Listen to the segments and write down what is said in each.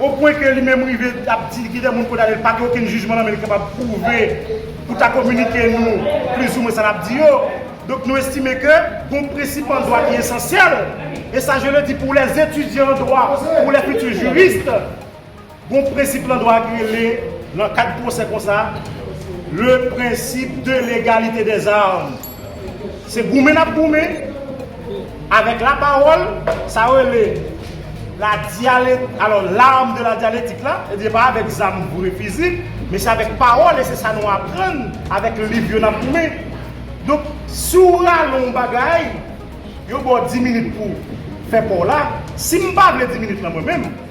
O pwen ke li menm rive ap di ki de moun kondane l pa gen okenn jijman nan men li kapab pwouve pou ta kominike nou plizoumwen sa l ap di yo. Donk nou estime ke gon prensip an dwa ki esansyèl, e sa je le di pou lè etidyan an dwa, pou lè fiti jurist, gon prensip lan dwa ki rele lan kad pwosè konsa le principe de l'égalité des armes. Se goumen nap goumen avèk la pawòl sa yo rele la dyale alò l'arme de la dialectique la e pa avèk zam vre fizik men se avèk pawòl e se sa nou aprann avèk liv yo nap goumen donk si w rale yon bagay yo ba w 10 minit pou w fè pa w la si m pa vle 10 minit lan mwen menm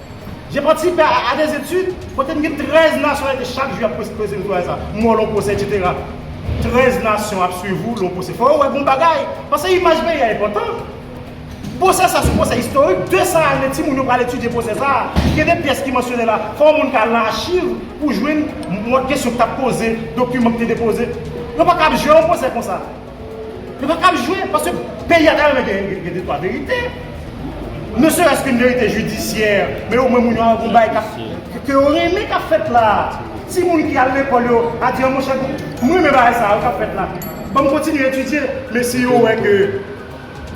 Je patisipe a de etid kote m gen 13 nasyonalite chak jou yap pwese m twalèt sa m wè w lè w pwose etsetera 13 nasyon ap swiv ou lè w pwose fò yo wè bon bagay pase imaj peyi a enpòtan pwose sa se yon pwose istorik 200 ane timoun yo pral etidye pwose sa gen de pyès ki mansyone la fò moun ka al nan achiv pou jwenn mòd kesyon ki tap poze dokiman ki te depoze yo pa ka ap jwe yon pwose konsa. Yo pa kab jwe paske peyi a ta renmen gen de twa verite. Ne serès ke verite jidisyè, men omwen moun yo an gon bay kap ke yo renmen kap fèt la. Ti moun ki al lekòl yo a di an monchè m renmen bagay sa yo kap fèt la. Banm kontinye etidye men si yo wè ke.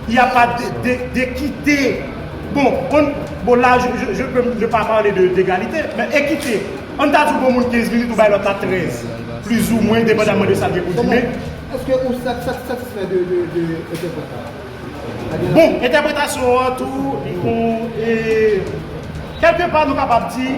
Y a pas de d'equite bon on bon la je peux je pa parle de d'egalite men ekite an ta di w bon moun 15 minit ou bay lòt la 13 plizoumwen depandaman de sa l gen pou di men Eske ou satisfè de entèpretasyon an? Bon entèpretasyon an tou on e kèlke pa nou kapab di.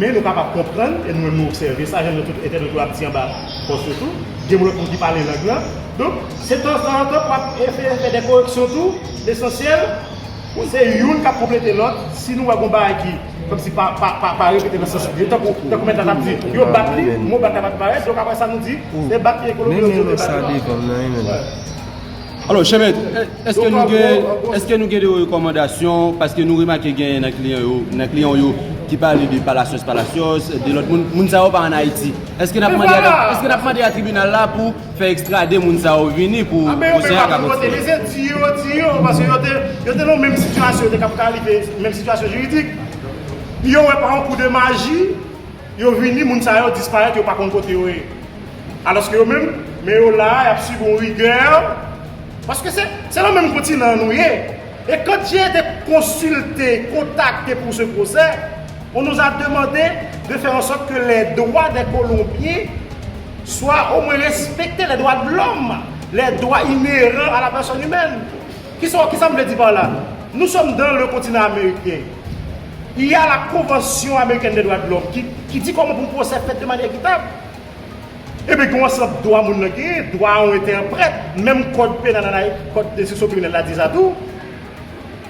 Men nou kapab konprann, e nou menm nou obsève sa, jan tout entènot yo ap di anba pòs yo tou, gen moun lòt moun ki pale lang lan. Donk, se tan tan an tan pou ap eseye fè de koreksyon tou. Lesansyèl, se youn k ap konplete lòt. Si nou wè gon bagay ki kòmsi pa repete nan sans li, tankou mèt la t ap di, yo bat li, mo bat la pa t parèt. Donk, apre sa nou di, se bat li e kolo bouyon di yo te bat li. Alò, chè mèt, èske nou gen, èske nou gen de rekòmandasyon, paske nou remake gen nan kliyan yo, nan kliyan w yo, ki pale de palasyòs palasyòs, de lòt moun, moun sa yo pa an Ayiti. Èske n ap mande a, èske n ap mande a tribinal la pou fè ekstrade moun sa yo vini pou pwosè a ka kontinye? Anben, yo te pa ki vote, yo se di yo, di yo, paske yo te, yo te nan menm sitiyasyon, yo te kapab ka rive menm sitiyasyon jiridik. Yo wè pa yon kou de maji. Yo vini, moun sa yo disparèt yo pa konn kote yo ye. Alòske yo menm, men yo la a, y ap sibi yon rigè, paske se se nan menm kontinan an nou ye. E kant je ete konsilte, kontakte pou se pwosè, on nous a demande de faire en sorte que les droits des Colombiens soient au moins respectés, les droits de l'homme, les droits inhérents à la personne humaine. Kisa kisa m vle di par la? Nou sòm dan le kontinan ameriken. Il ya la konvansyon amerikèn de dwa de lòm ki ki di kòman pou pwosè fèt de manyè ekitab. Ebyen gen yon ansanm dwa moun nan genyen, dwa a yon entèprèt, menm kòd penal an Ay, kòd enstriksyon kriminèl la di sa tou.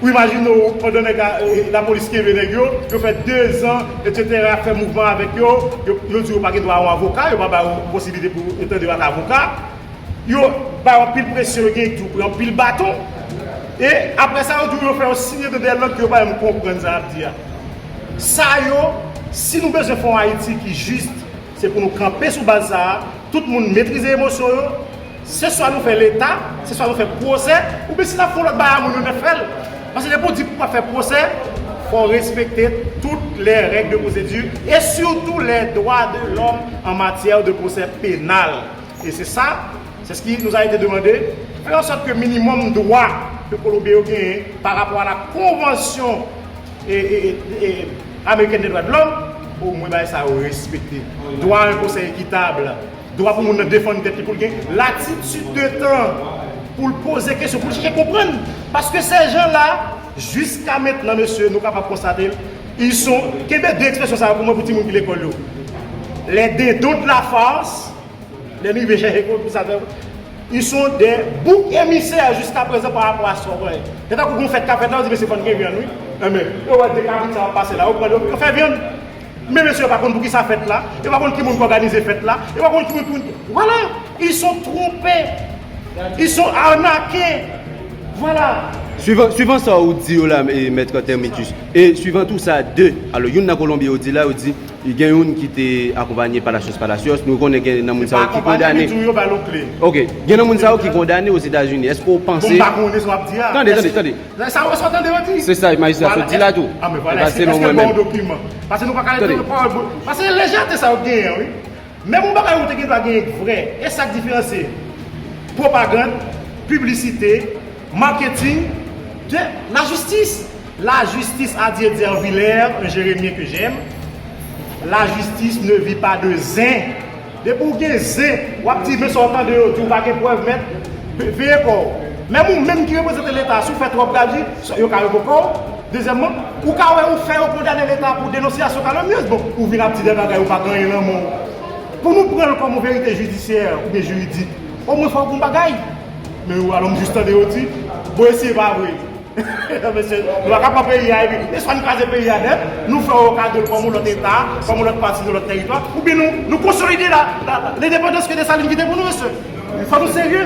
Ou imajine w pandan nèg a lapolis kenbe nèg yo, yo fè 2 zan etsetera fè mouvman avèk yo, yo yo di yo pa gen dwa a yon avoka, yo pa ba ou posiblite pou yo tande yo ak avoka. yo bay anpil presyon yo gen di yo pran anpil baton e aprè sa yo di w yo fè yon signe de dè lòd ke yo pa janm konprann sa y ap di a sa yo si nou bezwen fè yon ayiti ki jis se pou nou kanpe sou baz sa a tout moun metrize emosyon yo se swa nou fè leta se swa nou fè pwosè ou byen si n ap fè yon lòt bagay a moun yo n ap fè l paske depi w di pou w pa fè pwosè fò w respekte tout lè règ de pwosedi e sitou lè dwa de lòm an matyè de pwosè penal. E se sa, c'est ce qui nous a été demandé, fè an sòt ke minimòm dwa ke Kolonbyen yo genyen pa rapò a la konvansyon amerikèn de dwa de lòm, o mwen bagay sa yo respekte. Dwa a yon pwosè ekitab, dwa pou moun nan defann tèt li, pou l gen latitid de tan pou l poze kesyon, pou l chèche konprann. Paske sè jan la, jiska mentnan mesye, nou kapab konstate l, ils sont, kenbe de ekspresyon sa yo pou mwen pou timoun ki lekòl yo, les dindons de la farce, Lè nou rive chèche kont pou sa fè Ils sont des boucs émissaires jusqu'à présent par rapport à sa ou konnen. Se tankou gon fèt k ap fèt la, ou di mesye fò n gen vyann wi. Enben, yo wè de kabrit sa w ap pase la, yo pran yo, yo fè vyann. Men mesye yo pa konn poukisa fèt la, yo pa konn ki moun k òganize fèt la, yo pa konn ki moun ki moun. Vwala! Ils sont trompés. Ils sont arnaqués. Vwala! Swivan, swivan sa ou di yo la, Mèt Terminus, e swivan tou sa de, alò youn nan Kolonbyen yo di la, yo di. Gen youn ki te akonpanye Palacios Palacios. Nou konnen gen nan moun sa yo ki kondane. Ok. Gen nan moun sa yo ki kondane Ozetazini. Eske ou panse. Tande, tande, tande. Se sa majistra sot di la tou. E pa selon mwen menm. Tande. Marketing de la justice La justice a Dieu dit en Vilaire un Jeremyen que j'aime La justice ne vit pas de zen Depi w gen zen wap di men sa w tande yo di w pa gen prèv mèt veye kò w Menm ou menm ki reprezante leta si w fè twòp gadi yo ka revoke w Dezyèmman ou ka wè ou fè yo kondane leta pou denonsyasyon kalomnyez bon ou vin ap di de bagay ou pa genyen nan men w Pou nou pran l kòm yon verite jidisyè oubyen jiridik omwen fò w gen yon bagay Men ou alon m jis tande yo di Bon esi e pa vre Mesye nou paka pran peyi a epi e swa nou kraze peyi a nèt nou fè yon kado l kòm yon lòt eta kòm yon lòt pati yon lòt teritwa oubyen nou nou konsolide la lendepandans ke Desalin kite pou nou mesye fò nou serye.